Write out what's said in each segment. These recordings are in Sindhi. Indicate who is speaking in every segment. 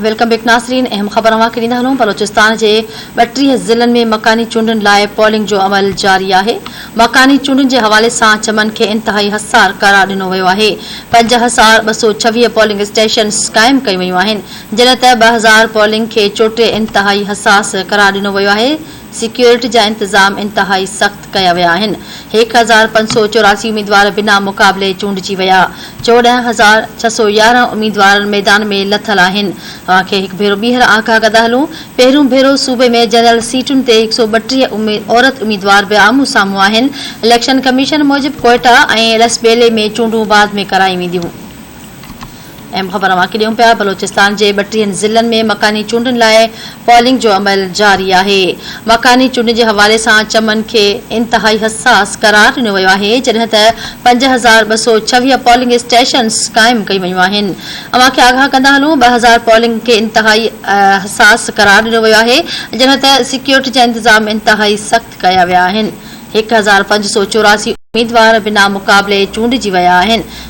Speaker 1: ويلڪم بيڪ ناظرين اهم خبر اوهان کي ڏيندا هلون بلوچستان جي ٻٽيهه ضلعن ۾ مڪاني چونڊن لاء پولنگ جو عمل جاري آهي مڪاني چونڊن جي حوالي سان چمن کي انتهائي حسار قرار ڏنو ويو آهي پنج هزار ٻه سؤ ڇويهه پولنگ اسٽيشنز قائم ڪيون ويون آهن جڏهن ته ٻه هزار پولنگ کي چوٽي انتهائي حساس قرار ڏنو ويو آهي سيڪيورٽي جا انتظام انتهائي سخت ڪيا ويا آهن، هڪ هزار پنج سؤ چوراسي اميدوار بنا مقابلي چونڊجي ويا، چوڏهن هزار ڇهه سؤ يارهن اميدوار ميدان ۾ لٿل آهن، اوهان کي هڪ ڀيرو ٻيهر آگاهه ڪندا هلون، پهريون ڀيرو صوبي ۾ جنرل سيٽن تي هڪ سؤ ٻٽيهه عورت اميدوار به آمهون سامهون آهن، اليڪشن ڪميشن موجب ڪوئيٽا ۽ لسٻيلي ۾ چونڊون بعد ۾ ڪرايون وينديون. اهم خبر اوهان کي ڏيون پيا بلوچستان جي ٻٽيهن ضلعن ۾ مڪاني چونڊن لاء پولنگ جو عمل جاري آهي مڪاني چونڊن جي حوالي سان چمن کي انتهائي حساس قرار ڏنو ويو آهي جڏهن ته پنج هزار ٻه سؤ ڇويهه پولنگ اسٽيشنز قائم ڪيون ويون آهن اوهان کي آگاهه ڪندا هلون ٻه هزار پولنگ کي انتهائي حساس قرار ڏنو ويو آهي جڏهن ته سيڪيورٽي جا انتظام انتهائي سخت ڪيا ويا آهن هڪ هزار پنج سؤ چوراسي اميدوار بنا مقابلي چونڊجي ويا آهن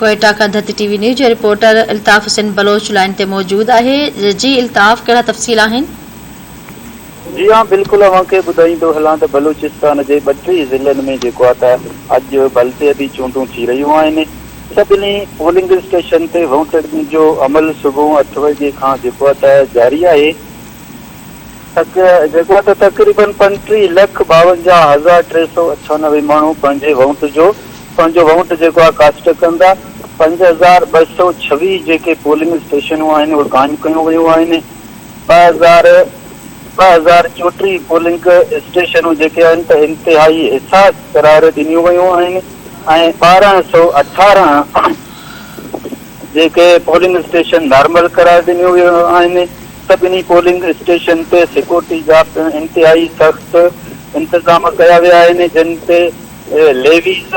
Speaker 1: ڪوئيٽا کان ڌت ٽي وي نيوز جو رپورٽر الطاف حسين بلوچ لائين تي موجود آهي جي الطاف ڪهڙا تفصيل آهن.
Speaker 2: جي ها بلڪل اوهان کي ٻڌائيندو هلان ته بلوچستان جي ٻه ٽي ضلعن ۾ جيڪو آهي ته اڄ بلدياتي چونڊون ٿي رهيون آهن سڀني پولنگ اسٽيشن تي وونٽ ڏيڻ جو عمل صبح اٺ وڄي کان جيڪو آهي ته جاري آهي. جيڪو آهي ته تقريبن پنٽيهه لک ٻاونجاهه هزار ٽي سؤ اٺانوي ماڻهو پنهنجي وونٽ جو پنهنجو وونٽ جيڪو آهي ڪاسٽ ڪندا، پنج هزار ٻه سؤ ڇويهه جيڪي پولنگ اسٽيشنون آهن اهي قائم ڪيون ويون آهن، ٻه هزار ٻه هزار چوٽيهه پولنگ اسٽيشنون جيڪي آهن ته انتهائي حساس قرار ڏنيون ويون آهن ۽ ٻارهن سؤ اٺارهن جيڪي پولنگ اسٽيشن نارمل قرار ڏنيو ويو آهن، سڀني پولنگ اسٽيشن تي سيڪورٽي جا پڻ انتهائي سخت انتظام ڪيا ويا آهن، جن تي ليويز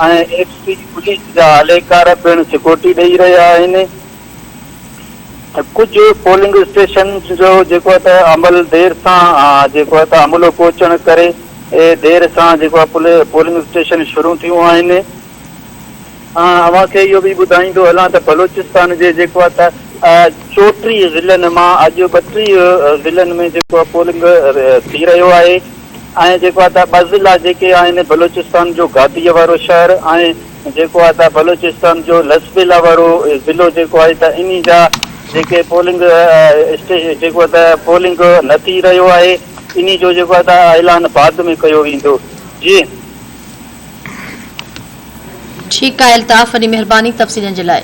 Speaker 2: ۽ ايف سي پوليس جا اهلڪار پڻ سيڪورٽي ڏئي رهيا آهن. ڪجهه پولنگ اسٽيشن جو جيڪو ته عمل دير سان جيڪو ته عملو پهچڻ ڪري دير سان جيڪو پولنگ اسٽيشن شروع ٿيون آهن. آئون اوهان کي اهو به ٻڌائيندو هلان ته بلوچستان جي جيڪو آهي ته چوٽيهه ضلعن مان اڄ ٻٽيهه ضلعن ۾ جيڪو آهي پولنگ ٿي رهيو آهي ۽ جيڪو آهي ته ٻه ضلعا جيڪي آهن بلوچستان جو گاديء وارو شهر ۽ جيڪو آهي ته بلوچستان جو لسٻيلا وارو ضلعو جيڪو آهي ته انهي جا جيڪي پولنگ اسٽيشن جيڪو آهي ته پولنگ نه ٿي رهيو آهي انهي جو جيڪو آهي ته اعلان بعد ۾ ڪيو ويندو جي
Speaker 1: ٺيڪ آهي الطاف وڏي مهرباني تفصيلن جي لاء.